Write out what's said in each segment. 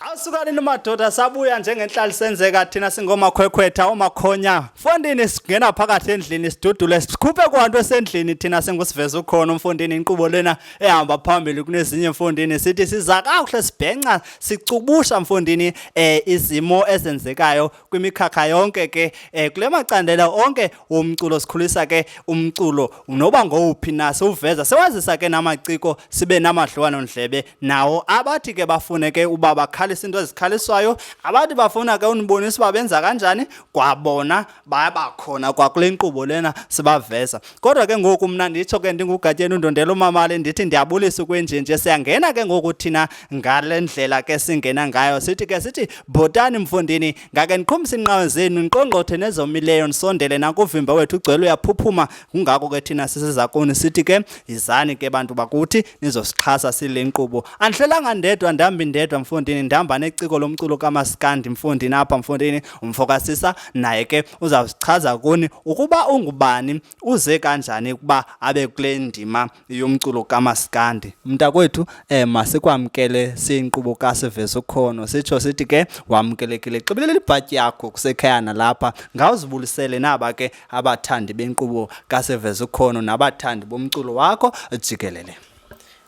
Awusukani madoda sabuya njengenhlali senzeka thina singomakhwekhwetha omakhonya. Mfondini singena phakathi endlini sidudule sikhuphe kwanto esendlini thina singusiveza ukhona umfondini inqubo lena ehamba phambili kunezinye mfondini sithi siza kakuhle sibhenca sicubusha mfondini eh izimo ezenzekayo kwimikhakha yonke ke um kule macandela onke womculo sikhulisa ke umculo noba ngowuphi na siwuveza sewazisa ke namaciko sibe namadliwanondlebe nawo abathi ke bafune ke uba bakhalisa into ezikhaliswayo abathi bafuna ke unibonisa uba benza kanjani kwabona bayabakhona kwakule nkqubo lena sibaveza kodwa ke ngoku mna nditsho ke ndingugatyeni undondela umamali ndithi ndiyabulisa ukwenjenje siyangena ke ngoku thina ngale ndlela ke singena ngayo sithi ke sithi bhotani mfundini ngake ndiqhumisa inqawe zenu ndiqongqothe nezomileyo ndisondele nakuvimba wethu ugcwele uyaphuphuma kungako ke thina sisizakuni sithi ke yizani ke bantu bakuthi nizosixhasa sile nkqubo andihlelanga ndedwa ndambi ndedwa mfundini ndihamba neciko lomculo kamasikandi mfundini apha mfundini Umfo kasisa naye ke uzawusichaza kuni ukuba ungubani uze kanjani ukuba abe kule ndima yomculo kamasikandi. Mntakwethu eh masikwamkele siyinkqubo kasivezo ukhono sitsho sithi ke wamkelekile xibelele ibhatyi yakho kusekhaya nalapha ngawuzibulisele naba ke abathandi benkqubo kasivezo ukhono nabathandi bomculo wakho jikelele.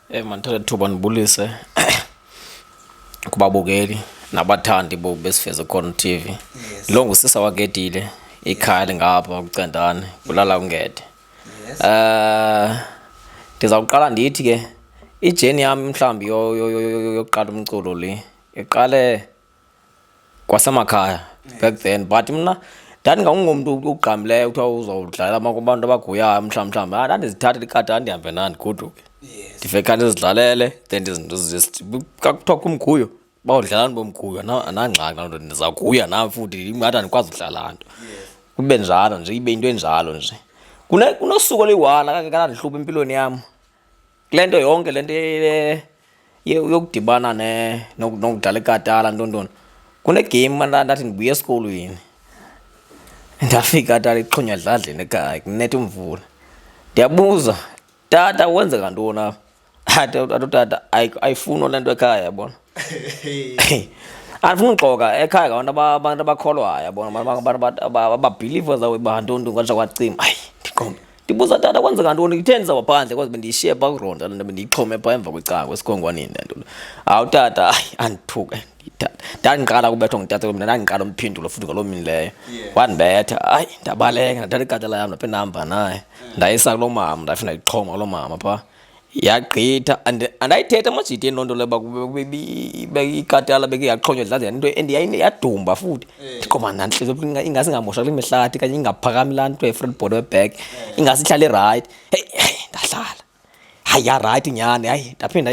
Eh, mandithole thuba ndibulise kubabukeli nabathandi bo besifeze khona TV. Yes. Lo ngusisa waketile ikhaya lingapha kucendane kulala ungede. Yes. Eh ndizawuqala ndithi ke ijeni yami mhlawumbi yokuqala umculo le iqale kwasemakhaya back then but mna ndandingangungomntu ugqamileyo kuthiwa uzawudlala abantu abaguyayo mhlawumbi mhlawumbi ah, ndandizithathela ikati andihambe nandi goduke ndive kanti ndizidlalele then kakuthiwa kumguyo bawudlalani bomguyo anangxaki loo nto ndizaguya nam futhi ingathi andikwazi udlala nto kube njalo nje ibe into enjalo nje kunosuku oluyi-one akake kanandihlupha empilweni yam kule nto yonke le nto yokudibana nokudlala ikatala ntontoni kunegame mna ndathi ndibuya esikolweni ndafika tata ixhonya dladleni ekhaya kunetha umvula ndiyabuza tata wenzeka ntoni apha atotata ayifuni le nto ekhaya yabona andifuna uxoka ekhaya ngabantu abantu abakholwayo yabona abantu ababhiliva zawo bantonto kwatsha kwacima ayi ndiqombe ndibuza tata kwenzeka ntoni kutheni ndiza kwaphandle kwaze bendiyishiye pha kuronda le nto bendiyixhome pha emva kwecango esikhongwaneni le nto hawu tata ayi andithuke ndandiqala kubethwa ngutata mna ndandiqala umphindulo futhi ngaloo mini leyo wandibetha ayi ndabaleka ndathatha ikatala yam ndaphinde ndahamba naye ndayisa kuloo mama ndafina ndayixhoma kuloo mama phaa yagqitha andayithetha amajiti ento nto leba ikatala beke yaqhonywa dlaza nto and yadumba futhi eh. ndiqoba nantliziyo ingase ingamosha kule mihlathi kanye ingaphakami laa nto efront board weback eh. ingase ihlale rayithi heyi heyi ndahlala hayi yarayithi nyhani hayi ndaphinda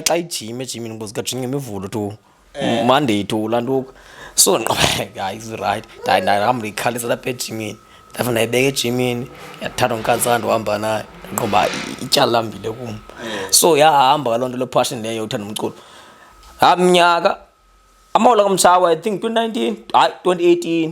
xa ijime ejimini ngoba zikajinga imivulo tu eh. mandiyitula ntuku so nqobeka isright ndahamba ndiyikhalisa lapha ejimini ndafa ndayibeka ejimini yathatha unkantsana ndihamba naye nqoba ityala lambile kum eh. so yahamba kaloo nto lephashini leyo uthanda umculo amnyaka amawula kamtshawa i think 2019 hayi 2018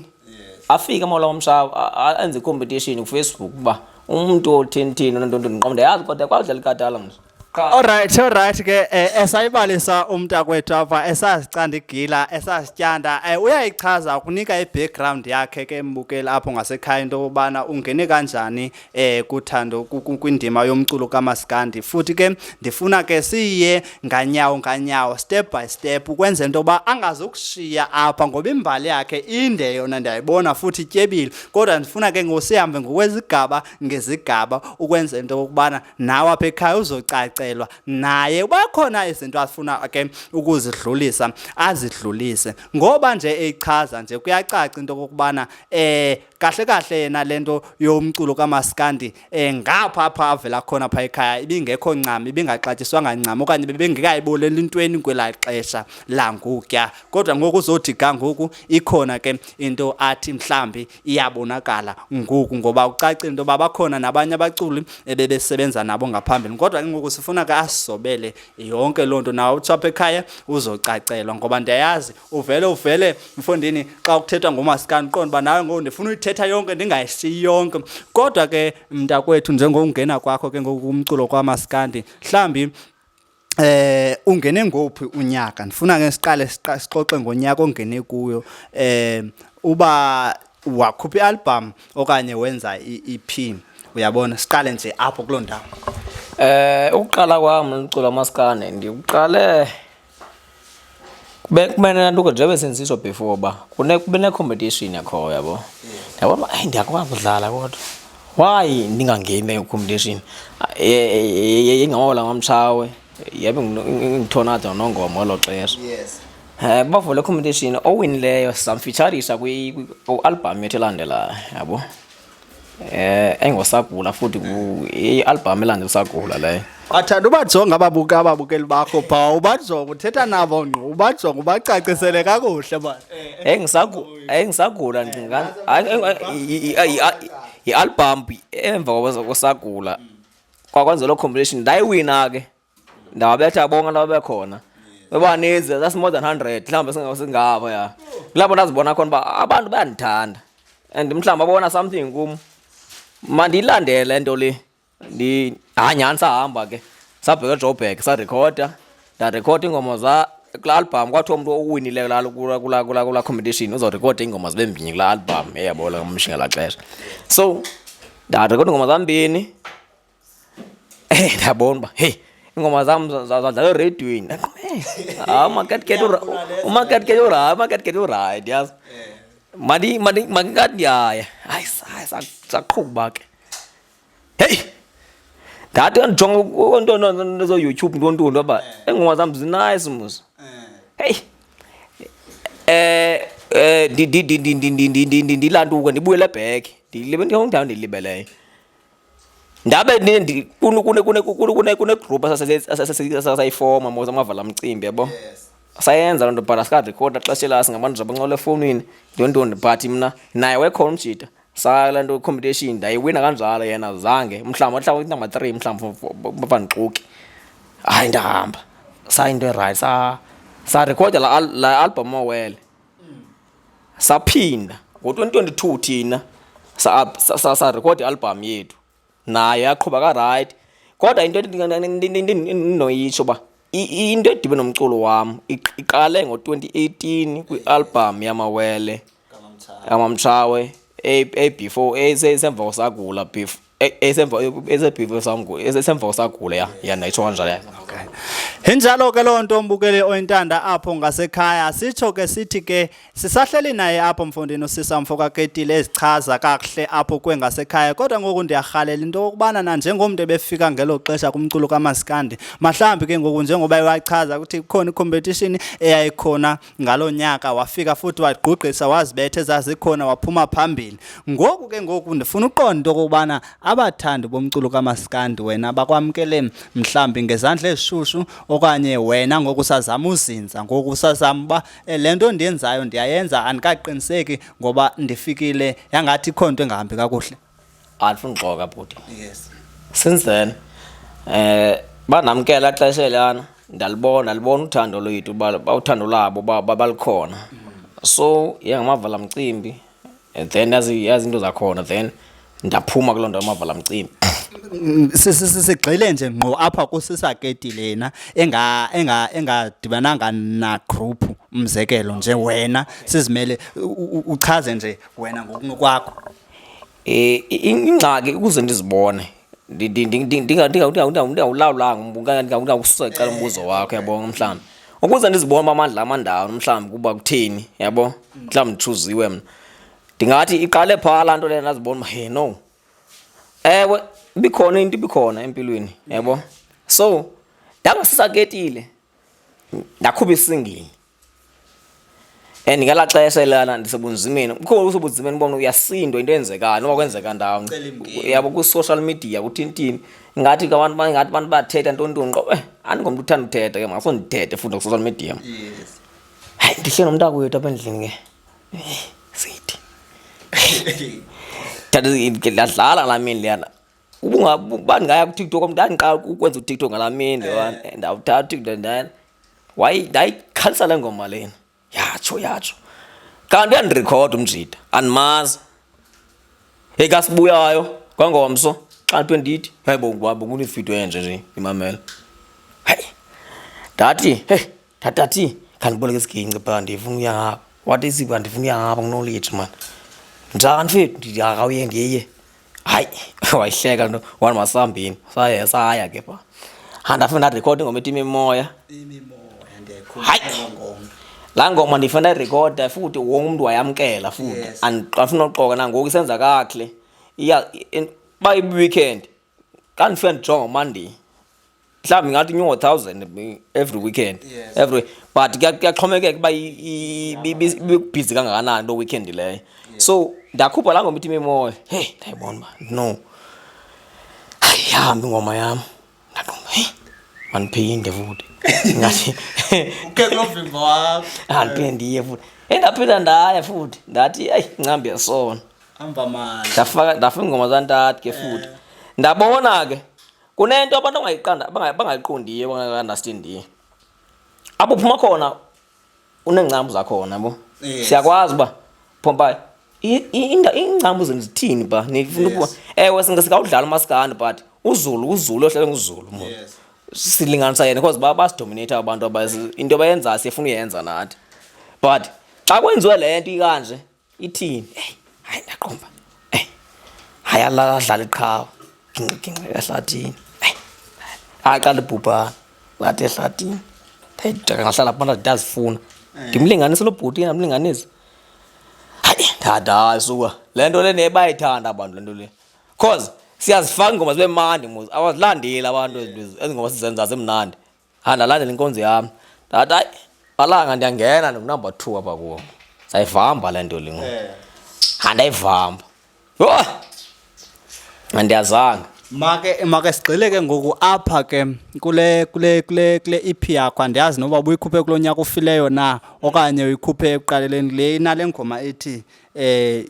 afike amawula kamtshawa enze icompetition kufacebook uba umntu othintini onontonto ndiqomda yazi kodwa kwawudlala ikatala mntu qha Alright, alright ke eh, esayibalisa umntakwethu apha esazicanda igila esasityanda eh, uyayichaza ukunika i-background yakhe ke embukeli apho ngasekhaya into yokubana ungene kanjani eh kuthando ku- ku- kwindima yomculo kamaskandi futhi ke ndifuna ke siye nganyawo nganyawo step by step ukwenzela into yoba angazukushiya apha ngoba imbali yakhe inde yona ndiyayibona futhi ityebile kodwa ndifuna ke ngosihambe ngokwezigaba ngezigaba ukwenza into yokubana nawe apha ekhaya uzocacelwa naye uba khona izinto afuna ke ukuzidlulisa azidlulise ngoba nje eyichaza nje kuyacaca into yokubana um kahle kahle yena le nto yomculo kamaskandi um ngapha apha avela khona phaa ekhaya ibingekho ncam ibingaxatyiswanga ncam okanye bebengekayiboleli intweni kwelaa xesha langukya kodwa ngoku uzothi ga ngoku ikhona ke into athi mhlawumbi iyabonakala ngoku ngoba ucacile into yoba bakhona nabanye abaculi ebebesebenza nabo ngaphambili kodwa ke ngoku sifuna ke asobele yonke loo nto nawe uthi apha ekhaya uzocacelwa ngoba ndiyayazi uvele uvele mfondini xa kuthethwa ngomasikani qonda uba nawe ngoku ndifuna uyithetha yonke ndingayishiyi yonke kodwa ke mntakwethu njengokungena kwakho ke ngoku umculo kwamasikandi mhlawumbi Eh ungene ngophi unyaka? Ndifuna ke siqale sixoxe ngonyaka ongene kuyo. Eh uba wakhupha ialbum okanye wenza iEP. Uyabona siqale nje apho kuloo ndawo. Eh ukuqala kwami umculo maskane ndiwuqale kube kumele laa nto ke njengoba sendisitsho before uba kube ne-competition yakhoyo yabo ndiyabona uba eyi ndiyakwazi udlala kodwa why ndingangeni leyo competition yengawola ngomtshawe yabe ngithonada nongoma olo xesha um bavule competition owinileyo samfitsharisa kwi-albham yethu elandelayo yabo Eh engosagula futhi i-album elande usagula leyo. Athanda ubajonga ababuka ababukeli bakho pha ubajonga uthetha nabo ngqo ubajonga ubacacisele kakuhle ba. Eh ngisagula eh ngisagula ndicinga i-album emva kwasagula kwakwenza lo competition ndayiwina ke. ndawabetha bonke ndababe khona bebaninzi that's more than 100 mhlawumbi singabo ya kulapho ndazibona khona uba abantu bayandithanda and mhlawumbi babona something kum mandiyilandele nto le ndihanyani sahamba ke sabheka ejobhek sarekhoda ndarekhoda iingoma za kula album kwathiwa umntu owinileyo lalo kula competition uzorekhoda iingoma zibe mbini kula album eyabola umshinga la xesha so ndarekhoda iingoma zambini Eh, ndiyabona uba heyi iingoma zam zadlala eredweni hayi umaketket umaketket urayi umaketket urayi ndiyazi mandingathi ndiyaya hayi saqhuba ke heyi ndathi kandijonga onto zoyoutube ntontoni uba iingoma zam zinayice mos heyi um ndilantuka ndibuyele ebheke ndilibendiyawundawundilibeleyo ndabe kunegroup asasayifoma mos amavala mcimbi yabo sayenza loo nto but asikarekhoda xesha ela singabantu zabancola efowunini ntontoni but mna naye wekhona umjita sala nto competition ndayiwina kanjalo yena zange mhlawumbi wahlawula inamba three mhlawumbi bafandixuki hayi ndahamba sayinto erayithi sarekhoda la album owele saphinda ngo-2022 thina sarekhode i-albhamu yethu naye yaqhuba karayithi kodwa into endinoyitsho uba into edibe nomculo wam iqale ngo-2018 kwi-albhamu yamawele amamtshawe a before esemva kosagula before E, esemva esebhivo sangu esemva usagula ya ya nayitsho kanjalo ya okay injalo ke loo nto mbukeli oyintanda apho ngasekhaya sitsho ke sithi ke sisahleli naye apho mfondini usisa mfo kaketile ezichaza kakuhle apho kwengasekhaya kodwa ngoku ndiyarhalela into yokubana na njengomntu ebefika ngelo xesha kumculo kamasikandi mahlambi ke ngoku njengoba ewachaza ukuthi kukhona icompetition eyayikhona ngaloo nyaka wafika futhi wagqugqisa wazibethe zazikhona waphuma phambili ngoku ke ngoku ndifuna uqonda into okokubana abathandi bomculo kamaskandi wena bakwamkele mhlawumbi ngezandla ezishushu okanye wena ngoku usazama uzinza ngoku usazama uba eh, le nto ndiyenzayo ndiyayenza andikaqiniseki ngoba ndifikile yangathi ikho nto engahambi kakuhle andifuni uxoka bhuti yes since then eh banamkela xesha elana ndalibona ndalibona uthando lwethu ba- ba- uthando labo ba- ba- balukhona so yangamavala mcimbi and then yazi yazi into zakhona then ndaphuma kuloo nto yamavala mcimbi Mm, si- si- si- sigxile nje ngqo apha kusisaketi lena enga enga engadibananga na group umzekelo nje wena sizimele u- u- uchaze nje wena ngokunokwakho ingxaki ukuze ndizibone ndingawulawulanga ndingawususa cala umbuzo wakho yabo mhlawumbi ukuze ndizibone uba amandla amandawo mhlawumbi kuba kutheni yabo mhlawumbi nditshuziwe mna ndingathi iqale phaa laa nto leyo ndazibona uba he no ewe ibikhona into ibikhona empilweni yabo so ndangasisakeetile ndakhupha isingile and ngelaa xesha elana ndisebunzimeni kukho usebunzimeni ubona uyasindwa into eyenzekayo noba kwenzeka ndawo yabo kwi-social media kuthintini ngathi ke abantu ngathi abantu bathetha ntontoni qo eh andingomntu uthanda uthetha ke makaso ndithethe futhi kwi-social media hayi ndihle nomntako wethu apha endlini ke eh, sithi ndadlala laa mini leyana ubandingaya kutiktok mntu andiqala ukwenza utiktok ngalaa mini leyo eh. ndawuthatha utiktok ndana wayi ndayikhansela le ngoma lena yatsho yatsho kanti uyandirekhoda umjida andimazi ekasibuyayo kwangomso xa nto endithi hayi bo ngubaba kunefito enje nje imamela hayi ndathi hey ndatathi khandiboleke isiginci phaa ndifuna uyahaba wathi isipha ndifuna uyahaba kunolitsho mani njani fethu ndithi akawuye ndiye hayi wayihleka nto wani masambini saye saya ke pha handafuna ndarekhode ingoma ethi imimoya hayi laa ngoma ndifuna ndayirekhoda futhi wonke umntu wayamkela futhi andifuna uxoka nangoku isenza kakhle uba iweekend xa ndifika ndijonga umandiyi mhlawumbi ingathi inyongo thousand every weekend yes. every but kuyaxhomekeka uba ibibhizi kangakanani loo weekend leyo yes. so ndakhupha laa ngoma ithi imimoya heyi ndayibona uba no ayihambi ingoma yam ndaqomba heyi mandiphinde futhi ngathi andiphinde ndiye futhi endaphinda ndaya futhi ndathi eyi ncambi yasona ndafaka ingoma zantathu ke futhi eh. ndabona ke kunento abantu abangayiqondiyo abangakanastin ndiye apho uphuma khona uneengcambu zakhona bo yes. siyakwazi uba phompa iingcambu zenu zithini ba nifuna ukuba ewe singawudlala umaskandi but uzulu uzulu ohlale nguzulu mo yes. silinganisa yena because ba basidominate abantu into bayenzayo siyefuna uyenza nathi but xa kwenziwe le nto ikanje Ithini? Hey, hayi ndaqomba. Hey. Hayi alala adlala iqhawe. Gingqi gingqi ehlathini. Hey. Hayi qala ibhubhana. Wathi ehlathini. Hey, ndaka ngahlala phantsi ndazifuna. Eh. Ndimlinganise lo bhuti ke ndamlinganisa. Hayi, dada suka. Le nto le nebayithanda abantu le nto le. Cause siyazifaka ingoma zibe mandi mos awazilandeli abantu ezingoma sizenza zimnandi andalandela inkonzo yam ndathi hayi alanga ndiyangena ndingunumber two apha kuwo ndayivamba le nto lingo eh. andayivamba yho andiyazanga make make sigxile ke ngoku apha ke kule kule kule kule EP yakho andiyazi noba ubuyikhuphe kulo nyaka ufileyo na okanye uyikhuphe ekuqaleleni le inale ngoma ethi eh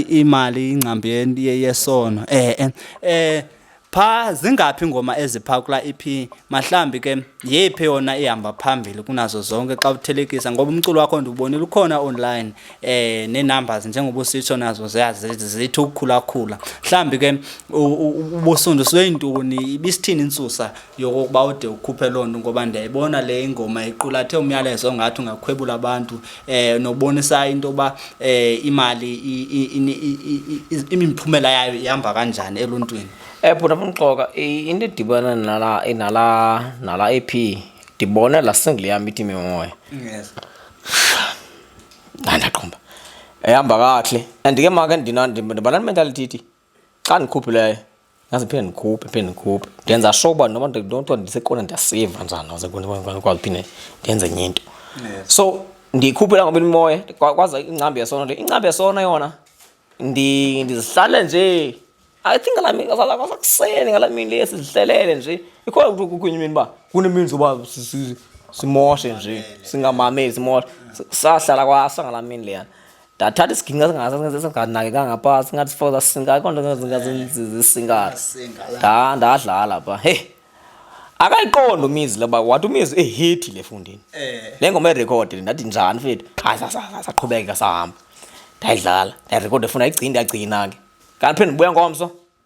imali ingcambi yesono eh eh, eh Pha zingaphi ingoma ezipha kula EP? Mahlambi ke yephi yona ihamba phambili kunazo zonke xa uthelekisa ngoba umculo wakho ndiwubonile ukhona online eh nenumbers njengoba usitsho nazo ziyazithi ukukhula khula. Mhlambi ke ubusundu sweyintoni ibisithini insusa yokuba ude ukhuphe lonto ngoba ndiyayibona le ingoma iqulathe umyalezo ongathi ungakhwebula abantu eh nobonisa into yoba eh imali imiphumela yayo ihamba kanjani eluntwini eh bhuti amxoka into edibana nala nala nala EP ndibona la single yam ithi mimoya yes andaqhumba ehamba kahle and ke maka ndibana mentality ithi xa ndikhuphileyo yazi phinde ndikhuphe phinde ndikhuphe ndenza sure uba noba ndonto ndisekona ndiyasiva njani aze ndikwazi phinde ndenze enye into so ndiyikhuphela ngoba imimoya kwaza ingcambi yesona nto ingcambi yesona yona ndizihlale nje i think ngala mini kwasakuseni ngala mini le sizihlelele nje ikhona ukuthi kukhunye imini uba kunemini zoba simoshe nje singamameli simoshe sahlala kwasa ngala mini leyana ndathatha isiginga singasingasingasinganakekanga pha singathi sifoza sisinga akho nto singasinzizisingayo nda ndadlala pha hey akayiqondi umizi leba wathi umizi ehethi le fundini eh. le ngoma erekhode le ndathi njani fethu hayi saqhubeka sahamba ndayidlala ndayirekhode funa igcini ndiyagcina ke kanti phinde ndibuya ngomso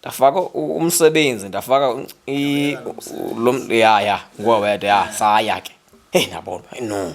ndafaka umsebenzi ndafaka lo mntu ya ya nguwe wedwa ya saya ke heyi nabona heyi no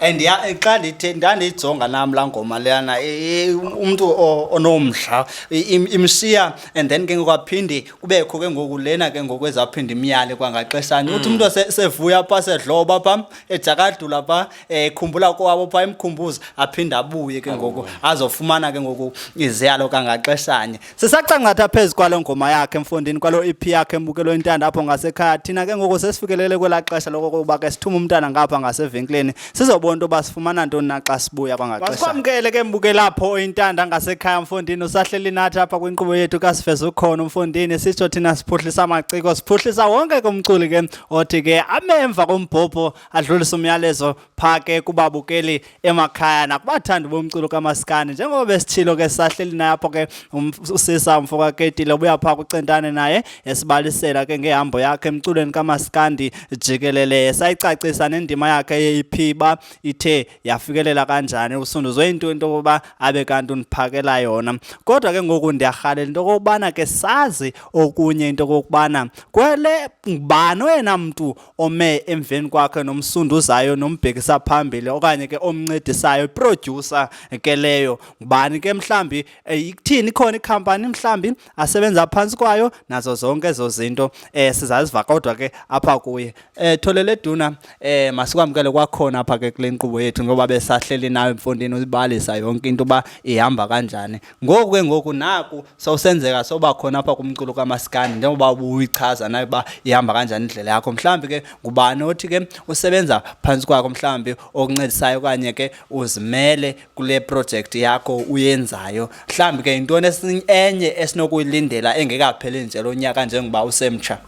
and ya xa ndithe ndandiyijonga nam laa ngoma leyana e- e- umntu o- onomdla i- im- imshiya and then ke ngoku aphinde kubekho ke ngoku lena ke ngoku ezaphinde imyale kwangaxeshanye uthi umntu ose- sevuya pha sedloba pha ejakadula pha eh khumbula kwabo pha emkhumbuzo aphinde abuye ke ngoku azofumana ke ngoku iziyalo kangaxeshanye sisacangatha phezu kwalo ngoma yakhe emfundini kwalo EP yakhe embukelo intanda apho ngasekhaya thina ke ngoku sesifikelele kwela xesha lokokuba ke sithume umntana ngapha ngasevenkileni sizobona into yoba sifumana ntoni na xa sibuya kwangaxesha masikwamkele ke mbukela apho intanda ngasekhaya mfundini usahleli nathi apha kwinkqubo yethu kasiveza ukhona umfundini sitsho thina siphuhlisa amaciko siphuhlisa wonke ke umculi ke othi ke amemva kombhobho adlulise umyalezo phaa ke kubabukeli emakhaya nakubathandi bomculo kamasikandi njengoba besithilo ke sisahleli naye apho ke um, usisa umfo kaketile ubuya phaa kucentane naye esibalisela ke ngehambo yakhe emculweni kamasikandi jikelele sayicacisa nendima yakhe yeyiphiba ithe yafikelela kanjani usunduzwe into into yokuba abe kanti undiphakela yona kodwa ke ngoku ndiyarhalela into yokokubana ke sazi okunye into yokokubana kwele ngubani oyena mntu ome emveni kwakhe nomsunduzayo nombhekisa phambili okanye ke omncedisayo iproducer ke leyo ngubani ke mhlambi eh, ikuthini ikhona ikhampani mhlambi asebenza phantsi kwayo nazo zonke ezo zinto um eh, sizaziva kodwa ke apha kuye um tholele duna um masikwamkele kwakhona apha ke kule nkqubo yethu ngoba besahleli nayo emfondini uzibalisa yonke into uba ihamba kanjani ngoku ke ngoku naku sawusenzeka soba khona apha kumculo kamasikandi njengoba ubuyichaza nayo uba ihamba kanjani indlela yakho mhlawumbi ke ngubani othi ke usebenza phantsi kwakho mhlawumbi okuncedisayo okanye ke uzimele kule projekthi yakho uyenzayo mhlawumbi ke yintoni enye esinokuyilindela engekapheli nje lo nyaka njengoba usemtsha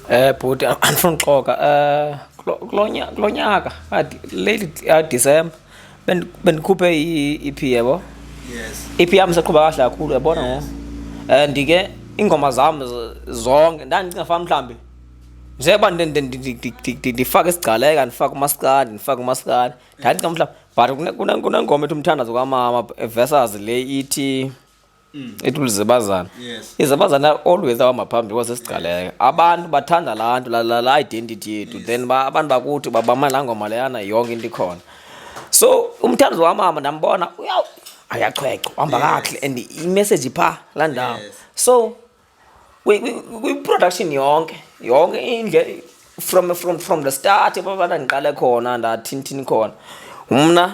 um bhuti andifuna uxoka um eh, kulo nyaka late ah, december bendikhuphe i-ep yebo i-ep yam saqhuba kahle kakhulu yabona ngo and ke iingoma zam zonke ndandicinga fana mhlawumbi njengoba ndifake isigcaleka ndifake umasikandi ndifake umasikandi ndandicinga mhlawumbi but kunengoma ethi umthandazo kwamama versus le ithi Mm. ithi ulizibazana yes. izibazana always ahamba phambili kwasesigcaleka abantu bathanda laa nto la identity yethu yes. then ba, abantu bakuthi babama laa ngoma leyana yonke into ikhona so umthandizi wamama ndambona ayachweco uhamba yes. kakuhle and imessage phaa laa ndawo yes. so kwiproduction yonke yonke indle from, from, from the start ebabana ndiqale khona ndathintini khona mna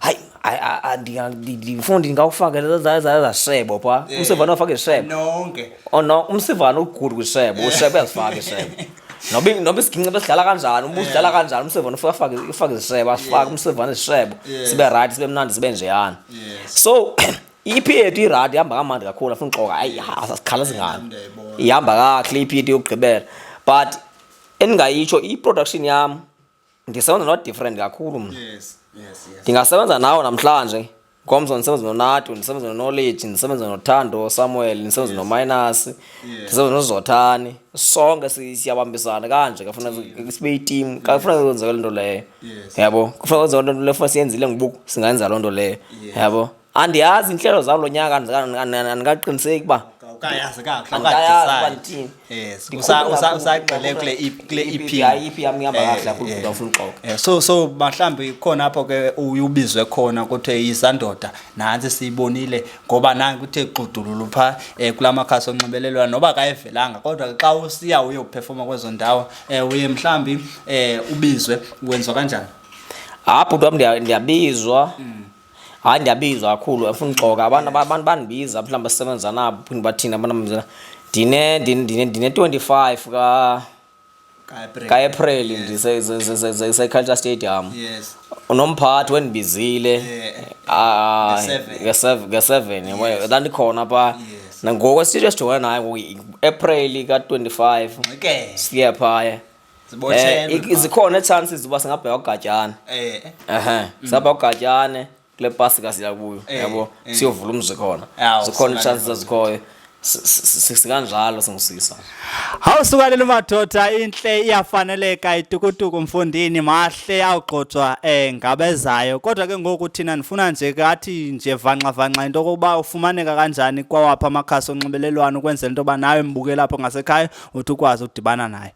hayi hayi, a- a- ndinga- ndi- ndifuna ndingawufake za- za- za- zasebo pha Eh, umsivana ufake isebo nonke Oh no, umsivana ugudu kwisebo, usebo uyazifaka isebo. Noba noba isiginci besidlala kanjani, uba usidlala kanjani, umsivana ufike afake ufake isebo, asifake umsivana isebo, Yeah. sibe right, sibe mnandi, sibe njeyana. Yes. So iPET irad ihamba kamandi kakhulu afuna uxoka. Hayi, asikhala zingane. Nam ndiyayibona. Ihamba kahle iPET yokugqibela. But endingayitsho iproduction yam ndisebenza not different kakhulu mna yes yes yes ndingasebenza nawe namhlanje ngomso ndisebenza nonatu ndisebenza nonoleji ndisebenza nothando samuel ndisebenza nominus ndisebenza nozothani sonke si- siyabambisana kanje kafuna sibe itimu kafuna kwenzeka loo nto leyo Yes. yabo kufuna kwenzeka loo nto leyo funa siyenzile ngobuku singayenza loo nto leyo yabo andiyazi inhlelo zalo nyaka andikaqiniseki uba ukayazi kakuhle ukayazi uba ndithini yes usagxile kule e kule EP hayi EP yami ihamba kahle lapho ubuda ufuna uxoka so so mhlawumbi khona apho ke uyubizwe khona kuthiwe izandoda nansi siyibonile ngoba nange kuthe xudululu pha eh, kula makhasi onxibelelwano noba kayivelanga kodwa xa usiya uye uphefoma kwezo ndawo eh, uye mhlawumbi eh, ubizwe wenziwa kanjani hayi bhuti wam ndiyabizwa mm. hayi ndiyabizwa kakhulu afuna uxoka abantu abantu bandibiza mhlawumbi basebenza nabo phinde bathini abantu abamzela ndine ndine ndine 25 ka kaepril ndiseculture stadium unomphathi wendibizile ah, nge-seven ndandikhona phaa nangoku esithetho esijongene naye ngoku april ka-twenty-five siye phaya Eh, zikhona itshansi zoba singabheka ugatyane eh. ehe mm. saba ugatyane kule pasi kasiya kuyo eh, yabo siyovula umzi khona zikhona itshansi zazikhoyo sikanjalo singusisa hawu sukalela umadoda intle iyafaneleka itukutuku mfundini mahle awugxotshwa um ngabezayo kodwa ke ngoku thina ndifuna nje kathi nje vanxavanxa into yokokuba ufumaneka kanjani kwawaphi amakhasi onxibelelwano ukwenzela into yoba nawe mbukela apho ngasekhaya uthi ukwazi udibana naye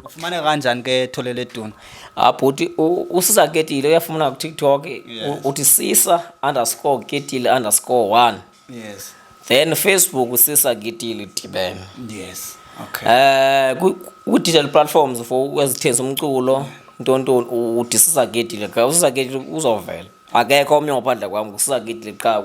ufumane kanjani ke thole leduna ah, bhuti usiza ketile uyafumana kutiktok uthi sisa underscore ketile underscore one yes then facebook usisa ketile dibene yes okay eh uh, ku-digital platforms for ezithengisa umculo ntontoni udisisa ketile ka usisa ketile uzovela akekho omnye ngaphandle kwam ngusisagidile qha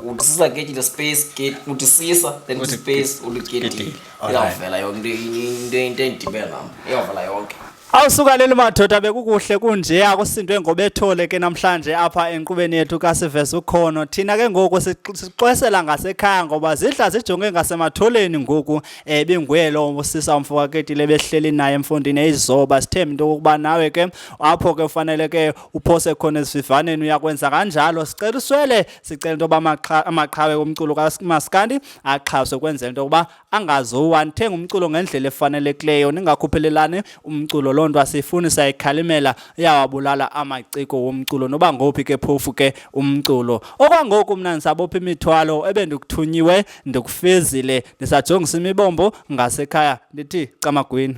uthi sisagidile space gate uthi sisa then uthi space uligidile iyavela yonke into into endibela nam iyavela yonke awusukaneli madoda bekukuhle kunje akusindwe ngobethole ke namhlanje apha enkqubeni yethu kasiveza ukhono thina ke ngoku sixwesela ngasekhaya ngoba zidla zijonge ngasematholeni ngoku um binguye lo usisa umfo kaketile behleli naye emfundini eyizoba sithembe into yokokuba nawe ke apho ke ufanele ke uphose khona esivivaneni uyakwenza kanjalo sicela uswele sicela into yoba amaqhawe omculo kamaskandi axhaswe kwenzela into yokuba angazowa nithenga umculo ngendlela efanelekileyo ningakhuphelelani umculo loo nto asiyifuni sayikhalimela iyawabulala amaciko womculo noba ngophi ke phofu ke umculo okwangoku mna ndisabopha imithwalo ebendikuthunyiwe ndikufezile ndisajongisa imibombo ngasekhaya ndithi camagwini